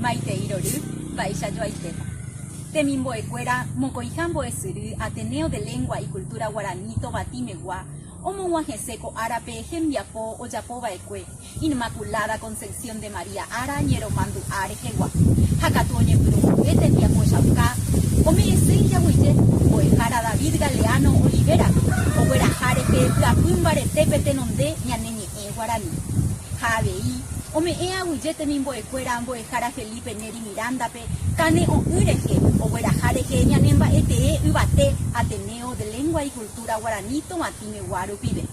Maitei rory, mba'éicha joaitépa. Temimbo'ekuéra mokõiha mbo'esyry Ateneo de Lengua y Cultura Guarani Tobati megua omog̃uahẽse ko árape hembiapo ojapova'ekue Inmaculada Concepción de María ára ñeromandu'a rehegua ha katu oñepyrũmbyry tembiapochauka ome'ẽse ijaguije mbo'ehára David Galeano Olivera ogueraha rehe vy'apy mbaretépe tenonde ñane ñe'ẽ ñe'ẽ guarani, ha avei, ome'ẽ aguyje temimbo'ekuéra mbo'ehára Felipe Neri Mirándape kane'õ'ỹ rehe ogueraha rehe ñanemba'etee yvate Ateneo de Lengua y Cultura Guarani Tovatĩmegua rupive.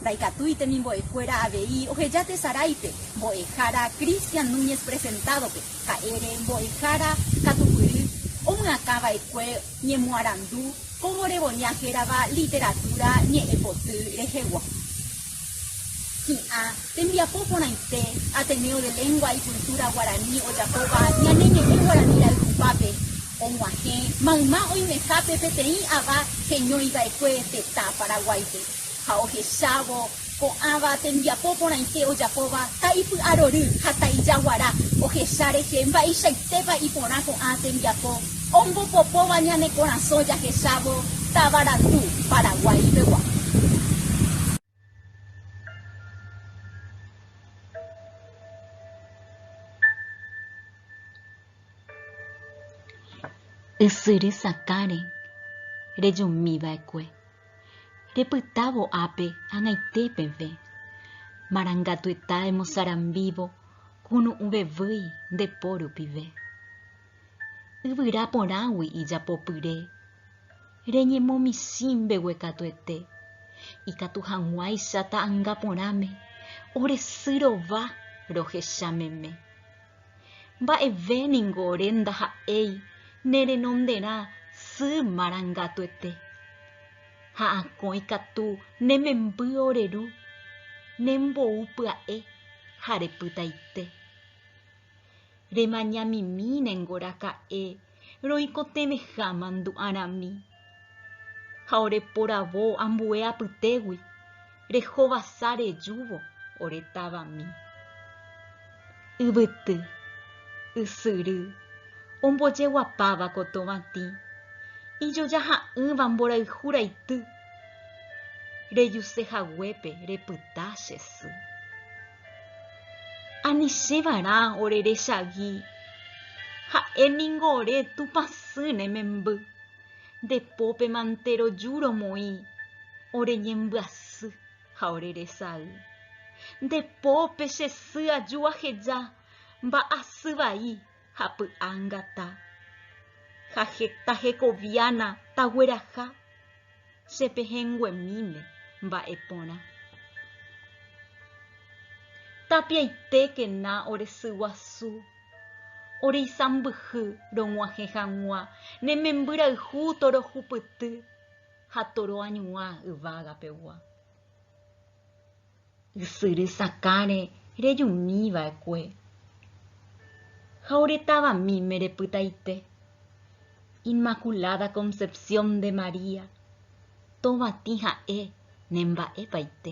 Ndaikatúi temimbo'ekuéra avei oheja tesaráipe mbo'ehára Cristian Núñez Presentado-pe, ha'ére mbo'ehára katupyry omyakãva'ekue ñemoarandu Cómo Reboñar hérava literatúra ñe'ẽpoty rehegua. Hi'ã, tembiapo porãite, Ateneo de Lengua y Cultura Guaraní ojapóva ñane ñe'ẽ guarani ra'y tupãpe, og̃uahẽ mayma oimehápe peteĩ ava heñóiva'ekue tetã Paraguáipe ha ohechávo ko'ãva tembiapo porãite ojapóva ta ipy'arory ha ta ijaguara ohecha rehe mba'eichaitépa iporã ko'ã tembiapo Ombopopóva ñane korasõ jahechávo Tavarandu, Paraguái pegua. Ysyry sakãre rejumi va'ekue, repytávo ápe ag̃aite peve. Marangatueta emosarambívo kunu'ũvevýi nde po rupive. Yvyra porãgui ijapopyre, reñemomisĩ mbeguekatuete, ikatu hag̃uáicha ta'anga porãme, oresy rova rohecha meme. Mba'eve ningo ore ndaha'éi ne renonderã sy marangatuete, ha akõ ikatu ne memby ore ru, ne mbou pya'e ha repytaite. Remañamimíne ngoraka'e roikotevẽ ha mandu'arami. Ha ore poravo ambue apytégui, rehovasa rejúvo ore tavami. Yvyty, ysyry, ombojeguapáva kotovãtĩ, ijoja ha'ỹva mborayhu raity, rejuse haguépe repyta che sy. Anichévarã ore rechagi, ha'e ningo ore Tupã sy ne memby, nde pópema nte roju romoĩ ore ñembyasy ha ore resay. Nde pópe che sy aju aheja mba'asy vai. ha py'angata, ha heta hekoviána tagueraha che pehẽnguemíme mba'e porã. Tapiaitékena ore sy guasu, ore isãmbyhy rog̃uahẽ hag̃ua ne membyrayhu torohupyty ha toroañuã yvága pegua. Ysyry sakãre rejumi va'ekue, ha ore tavamíme repytaite. Inmaculada Concepción de María, tovatĩ ha'e ne mba'epaite.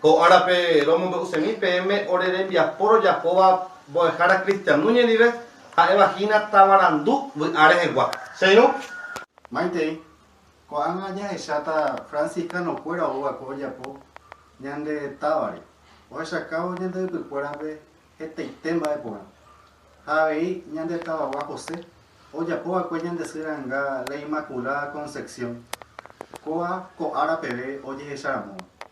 Ko árape romombe'usémi peẽme ore rembiapo rojapóva mbo'ehára kristianu ñandive, ha'éva hína tavarandu vy'a rehegua. Che irũ. Maitei, ko'ág̃a jahecháta franciscano-kuéra oúva'ekue ojapo ñande távare, ohechakávo ñande ypykuérape hetaite mba'e porã. Ha avei ñande tavagua José, ojapova'ekue ñande sy ranga la Inmaculada Concepción, kóva ko ára peve ojehecharamóva.